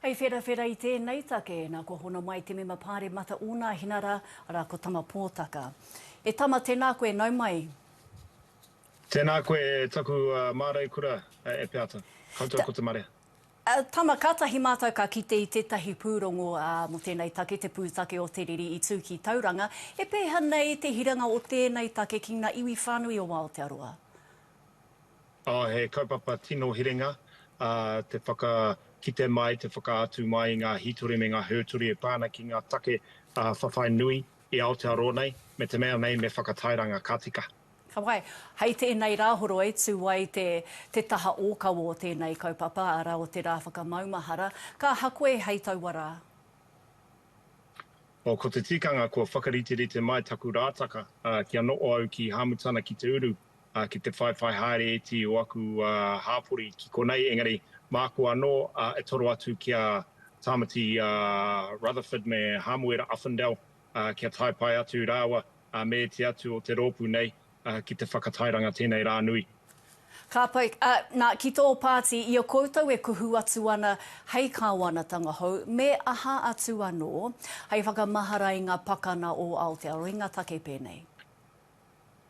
Hei wherawhera i tēnei take, nā kua hono mai te mema Pāremata Ōnāhina rā, arā ko Tama Pōtaka. E Tama, tēnā koe, nau mai. Tēnā koe e taku māreikura e Peata. Koutou ko te marea. Tama, kātahi mātou ka kite i tētahi pūrongo mō tēnei take, te pūtake o te riri i tū ki Tauranga. He pēha nei te hiranga o tēnei take ki ngā iwi whānui o Aotearoa? He kaupapa tino herenga te whakakite mai, te whakaatu mai i ngā hītori me ngā hōtori e pā ana ki ngā take whawhai nui i Aotearoa nei, me te mea nei me whakatairanga ka tika. Ka pai. Hei tēnei rā horoi, tū ai te taha ōkawa o tēnei kaupapa, arā o te rā whakamaumahara, ka aha koe hei taua rā? Oh, ko te tikanga kua whakariterite mai taku rātaka kia noho au ki Hāmutana ki te uru, ki te whaiwhai haere iti o aku hāpori ki konei, engari māku anō e toro atu ki a Tāmati Rutherford me Hāmuera Uffindell kia tae pai atu rāua me ēti atu o te rōpū nei ki te whakatairanga tēnei rā nui. Ka pai, ā, nā, ki tō pāti, i a koutou e kuhu atu ana hei kāwanatanga hou, me aha atu anō, hei whakamahara i ngā pakana o Aotearoa, i ngā take pēnei?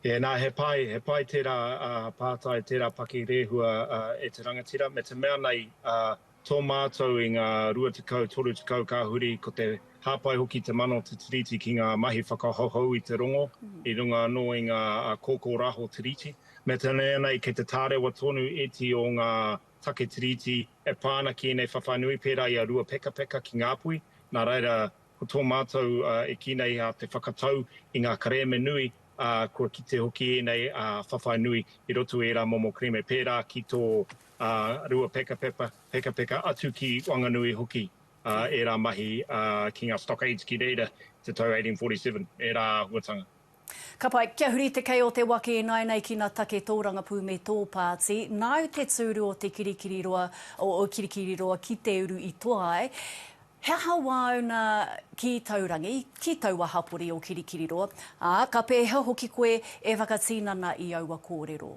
Tēnā, he pai, he pai tērā pātai, tērā paki rēhua e te rangatira, me te mea nei, tō mātou i ngā rua tekau, toru tekau ka huri, ko te hāpai hoki te mana o te Tiriti ki ngā mahi whakahouhou i te rongo, i runga anō i ngā kōkōraho Tiriti. Me te mea nei, kei te tārewa tonu ēti o ngā take Tiriti e pā ana ki ēnei whawhai nui, pērā i a Ruapekapeka ki Ngāpuhi, nā reira, Ko tō mātou e kī nei a te whakatau i ngā kerēme nui, ā, kua kite hoki ēnei ā whawhai nui i roto i ērā momo kerēme pērā ki tō ā rua peka pepa, peka peka atu ki Wanganui hoki ā ērā mahi ā ki ngā stockades ki reira i te tau 1847, ērā āhuatanga. Ka pai, kia huri te kei o te waka ināinei ki na take tōrangapū me tō pāti, nāu te tūru o te kirikiriroa, o o kirikiriroa ki te uru i toa ai, he aha wāuna ki taurangi, ki taua hapori o kirikiriroa, ā, ka pēhea hoki koe e whakatīnana i aua kōrero.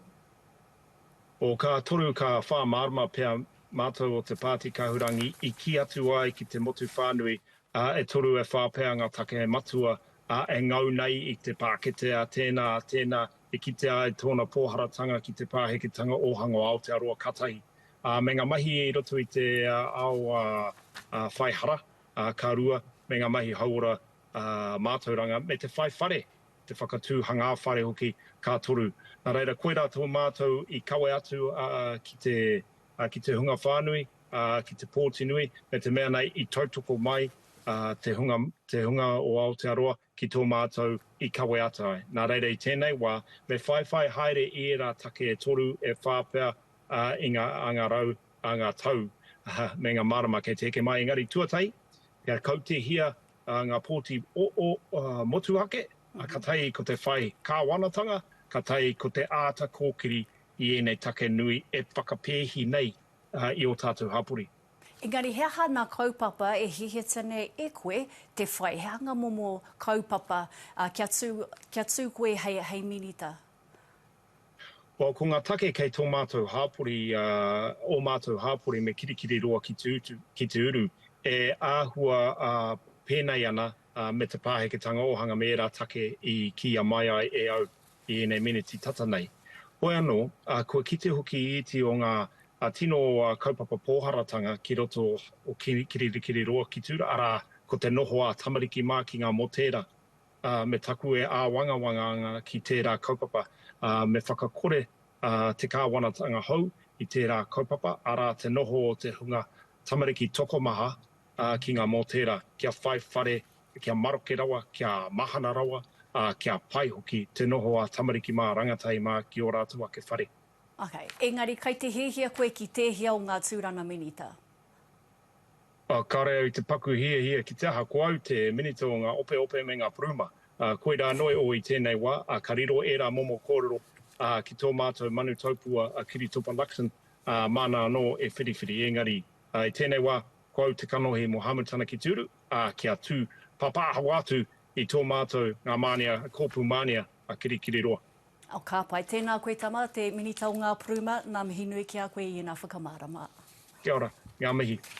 O ka toru ka whā mārama pea mātou o te pāti kahurangi i kī atu ai ki te motu whānui ā, e toru e whā pea ngā take matua, ā, e ngau nei i te pākete a tēnā, a tēnā, e kitea ai tōna pōharatanga ki te pāheketanga ōhanga o Aotearoa katahi. Ā, me ngā mahi i roto i te ao whai hara, ā, ka rua, me ngā mahi hauora mātauranga, me te whai whare, te whakatū hangā whare hoki, ka toru. Nā reira, koirā tō mātou i kawe atu ki te ki te hunga whānui, ki te pōti nui, me te mea nei i tautoko mai te hunga, te hunga o Aotearoa ki tō mātou i kawe ata ai. Nā reira i tēnei wā, me whaiwhai haere i ērā take e toru, e whā pea i ngā anga rau, anga tau, me ngā marama kei te eke mai. Engari tuatahi, kia kautehia ngā pōti motuhake, ka tahi ko te whai kāwanatanga, ka tahi ko te āta kōkiri i ēnei take nui e whakapēhi nei i ō tātou hapori. Engari he aha nā kaupapa e hihita nei e koe te whai? He aha ngā momo kaupapa kia tū, kia tū koe hei, hei Minita? Well, ko ngā take kei tō mātou hāpori, ō mātou hāpori me Kirikiriroa ki te utu, ki te uru, e āhua pēnei ana me te pāheketanga ōhanga me ērā take i kīia mai ai e au. i ēnei meneti tata nei. Hoi anō, kua kite hoki i iti o ngā tino kaupapa pōharatanga ki roto o Kiririkiri roa ki tura, arā, ko te noho ā tamariki mākinga mō tērā. Me taku e āwangawanga ana ki tērā kaupapa, me whakakore te kāwanatanga hou i tērā kaupapa, arā, te noho o te hunga tamariki tokomaha ā, ki ngā mōtēra, kia whai whare, kia maroke rawa, kia mahana rawa, ā, kia pai hoki te noho a tamariki mā, rangatahi mā ki ō rātou ake whare. Ok, engari kai te hiahia koe ki tēhea o ngā tūranga minita? Ā, kāre au i te paku hiahia ki te aha, ko au te minita o ngā opeope me ngā puruma. Ā, koirā noe ō i tēnei wā, ā, ka riro ērā momo kōrero, ā, ki tō mātou manu taupua a Kiritopa Luxon, ā, māna anō e whiriwhiri, engari, I tēnei wā, ko au te kanohi mō Hamu tana ki te uru, ā, kia tū pāpāhawa atu i tō mātou ngā mānia, kōpū mānia a Kirikiriroa. Oh, ka pai. Tēnā koe tama, te Minita o ngā Puruma, ngā mihi nui ki a koe i ēnā whakamārama. Kia ora, ngā mihi.